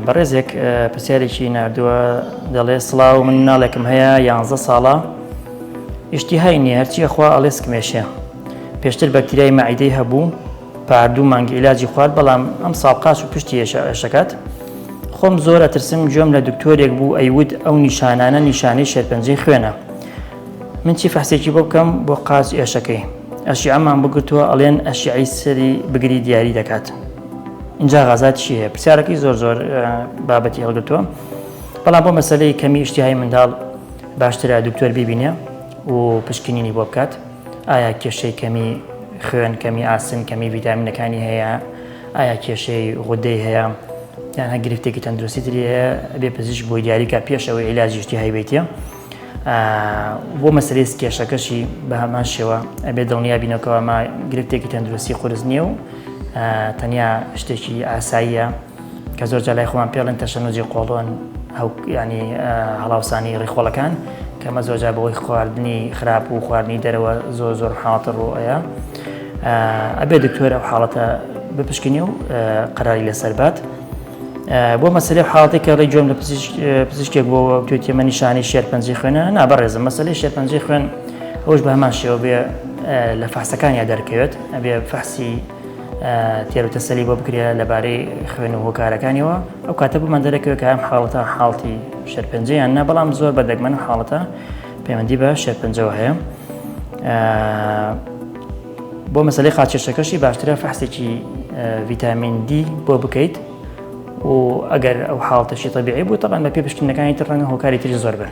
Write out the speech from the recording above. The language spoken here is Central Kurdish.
بەڕێزێک پرسیارێکی ناردووە دەڵێ سڵاو من ناڵێکم هەیە یانزە ساڵە ئیشتیهای نیە هەرچیە خوا ئەڵێسکمێشێ پێشتر بەکتریای مەعیدەی هەبوو پاردوو مانگی عیلاجی خوارد بەڵام ئەم ساڵقاش و پشتی ێشەکات خۆم زۆر ئەترسم گوێم لە دکتۆرێک بوو ئەیود ئەو نیشانانە نیشانەی شێرپەنجەی خوێنە من چی فەحسێکی بۆ بکەم بۆ قاچ ئێشەکەی ئەشیعەمان بگرتووە ئەڵێن ئەشیعەی سەری بگری دیاری دەکات اینجا غازات چی هەیە پرسیارەکەی زۆر زۆر بابەتی هەڵگرتووە بەڵام بۆ مەسلەی کەمی شتیهای منداڵ باشترە دکتۆر بیبینێ و پشکنینی بۆ بکات ئایا کێشەی کەمی خوێن کەمی ئاسن کەمی ویدامینەکانی هەیە ئایا کێشەی غودەی هەیە یان هە گرفتێکی تەندروستی تری هەیە بێ پزیش بۆی دیاریکە پێشەوەی عیلاجیشتی هایبێتە بۆ مەسلەی کێشەکەشی بە هەمان شێوە ئەبێ دڵنیا بینەکەەوە ما گرفتێکی تەندروستی قرس نییە و تەنیا شتێکی ئاساییە کە زۆر جلای خۆمان پێڵێن تەشەنوجی قۆڵۆن ینی هەڵاوسانی ڕیخۆڵەکان کەمە زۆجا بەوەی خواردنی خراپ و خواردنی دەرەوە زۆر زۆر حاڵتە ڕۆەیە ئەبێ دکتۆرە حاڵەتە بپشکنی و قەراری لەسەر بات بۆ مەسەلەی حاڵەتێک کە ڕێ گوێم لە پزیشکێک بۆ توێتی مە نیشانی شێرپەنجی خوێنە نابڕێزم مەسلەی شێرپەنجی خوێن ئەوش بە هەمان شێوە بێ لە فاسەکان یا دەرکەوێت ئەبێ فەحسی تێروتەسەلی بۆ بکرێ لەبارەی خوێن و هۆکارەکانیەوە ئەو کاتە بمان دەرەکەوێت کە ئەم حاڵەتە حاڵتی شێرپەنجەیان نە بەڵام زۆر بە دەگمەن حاڵەتە پەیوەندی بە شێرپەنجەوە هەیە. بۆ مەسەلەی قاچکێشەکەشی باشترە فەحسێکی ڤیتامین دی بۆ بکەیت و ئەگەر ئەو حاڵتەشی تەبیعی بوو تەبان بە پێ پشتینەکانی تر ڕەنگە هۆکاری تری زۆر بن.